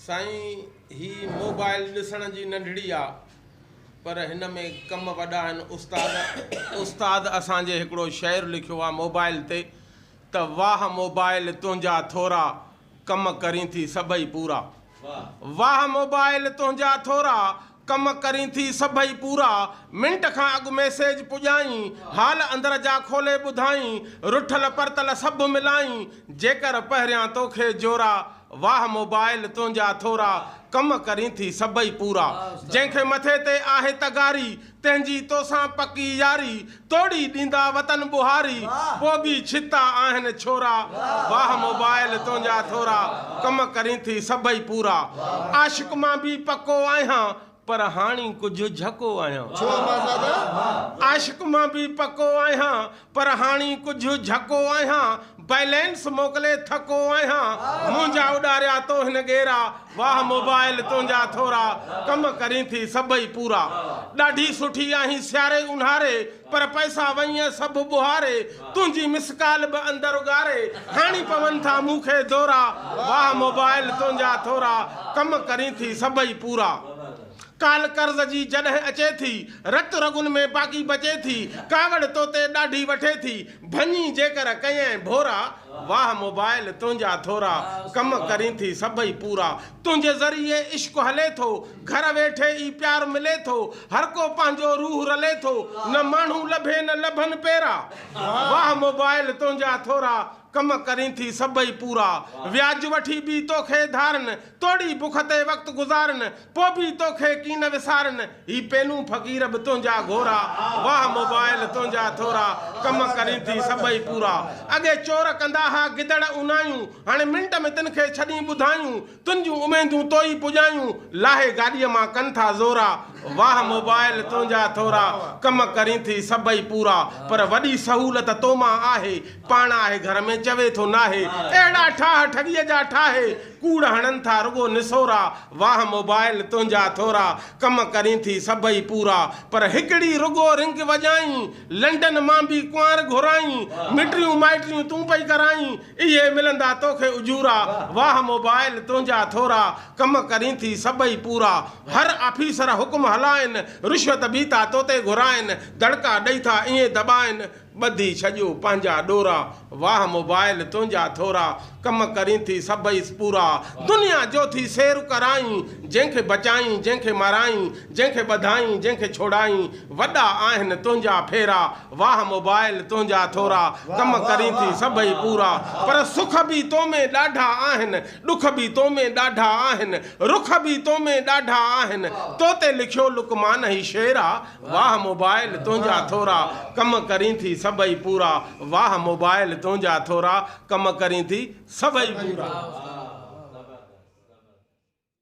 سائين هي موبائل ڏسڻ جي ننڍڙي آ پر هن ۾ ڪم وڏا آهن استاد استاد اسان جي هڪڙو شعر لکيو آ موبائل تي ته واهه موبائل تنهنجا ٿورا ڪم ڪرين ٿي سڀئي پورا واهه موبائل تنهنجا ٿورا ڪم ڪرين ٿي سڀئي پورا. منٽ کان اڳ ميسيج پڄائين. حال اندر جا کولي ٻڌائين. رٺل پرتل سڀ ملائين. جيڪر پهريان توکي جورا. واهه موبائل تنهنجا ٿورا. ڪم ڪرين ٿي سڀئي پورا. جنهن کي مٿي تي آهي تغاري. تنهنجي توسان پڪي ياري. توڙي ڏيندا وطن ٻهاري پوڳي ڇتا آهن ڇورا واهه موبائل تنهنجا ٿورا ڪم ڪرين ٿي سڀئي پورا عاشق مان به پڪو آهيان پر هاڻي ڪجهه جهڪو آهيان عاشق مان به پڪو آهيان پر هاڻي ڪجهه جهڪو آهيان بئلينس موڪلي ٿڪو آهيان منهنجا اڏاريا تو هن ڳيرا واهه موبائل تنهنجا ٿورا ڪم ڪرين ٿي سڀئي پورا ڏاڍي سٺي آهين سياري اونهاري پر پئسا وئينء سڀ ٻهاري تنهنجي مس ڪال به اندر اڳاري هاڻي پون ٿا مون کي دورا واهه موبائل تنهنجا ٿورا ڪم ڪرين ٿي سڀئي پورا ڪال قرض جي جڏهن اچي ٿي رت رڳن ۾ باقي بچي ٿي ڪاوڙ توتي ڏاڍي وٺي ٿي ڀڃي جيڪر ڪيئين ڀورا، واهه موبائل تنهنجا ٿورا، ڪم ڪرين ٿي سڀئي پورا، تنهنجي ذريعي عشق هلي ٿو، گهر ويٺي ئي پيار ملي ٿو، هر ڪو پنهنجو روح رلي ٿو، نه ماڻهو لڀي نه لڀن پيرا، واهه موبائل تنهنجا ٿورا، ڪم ڪرين ٿي سڀئي پورا، وياج وٺي به توکي ڌارن، توڙي بک تي وقت گذارن، پو به تو کي ڪين نه وسارن، هي پينون فقير به تنهنجا گهورا، واهه موبائل تنهنجا ٿورا، ڪم ڪرين ٿي سڀئي پورا، اڳي چور ڪندا ها گدڙ اونايون، هاڻي منٽ ۾ تن کي ڇڏين ٻڌايون، تن جون اميدون تو ئي پڄايون، لاهي گاڏيء مان ڪن ٿا زورا، واهه موبائل تنهنجا ٿورا، ڪم ڪرين ٿي سڀئي پورا، پر وڏي سهولت تو مان آهي، پاڻ آهي گهر ۾ چوي ٿو ناهي، اهڙا ٺاهه ٺڳيء جا ٺاهي، ڪوڙ هڻن ٿا رڳو نسورا، واهه موبائل تنهنجا ٿورا، ڪم ڪرين ٿي سڀئي پورا، پر هڪڙي رڳو رنگ وڄائين، لنڊن مان به ڪنوار گهرائين، مٽريون مائٽريون تون پئي ڪرائين، اهي ملندا توکي اجورا، واهه موبائل تنهنجا ٿورا، ڪم ڪرين ٿي سڀئي پورا، هر آفيسر حڪم هلائين، رشوت به ٿا توتي گهرائين، دڙڪا ڏئي ٿا ائين دٻائين، ٻڌي ڇڄو پنهنجا ڏورا، واهه موبائل تنهنجا ٿورا، ڪم ڪرين ٿي سڀئيس پورا، دنيا جو ٿي سير ڪرائين، جنهن کي بچائين، جنهن کي مارائين، جنهن کي ٻڌائين، جنهن کي ڇوڙائين، وڏا آهن تنهنجا ڦيرا، واهه موبائل تنهنجا ٿورا، ڪم ڪرين ٿي سڀئي پورا، پر سک به تو ۾ ڏاڍا آهن، ڏک به تو ۾ ڏاڍا آهن، رک به تو ۾ ڏاڍا آهن، تو تي لکيو لقمان هي شعر آ. واھ موبائل تنهنجا ٿورا ڪم ڪرين ٿي سڀئي پورا واھ موبائل تنهنجا ٿورا ڪم ڪرين ٿي سڀئي پورا.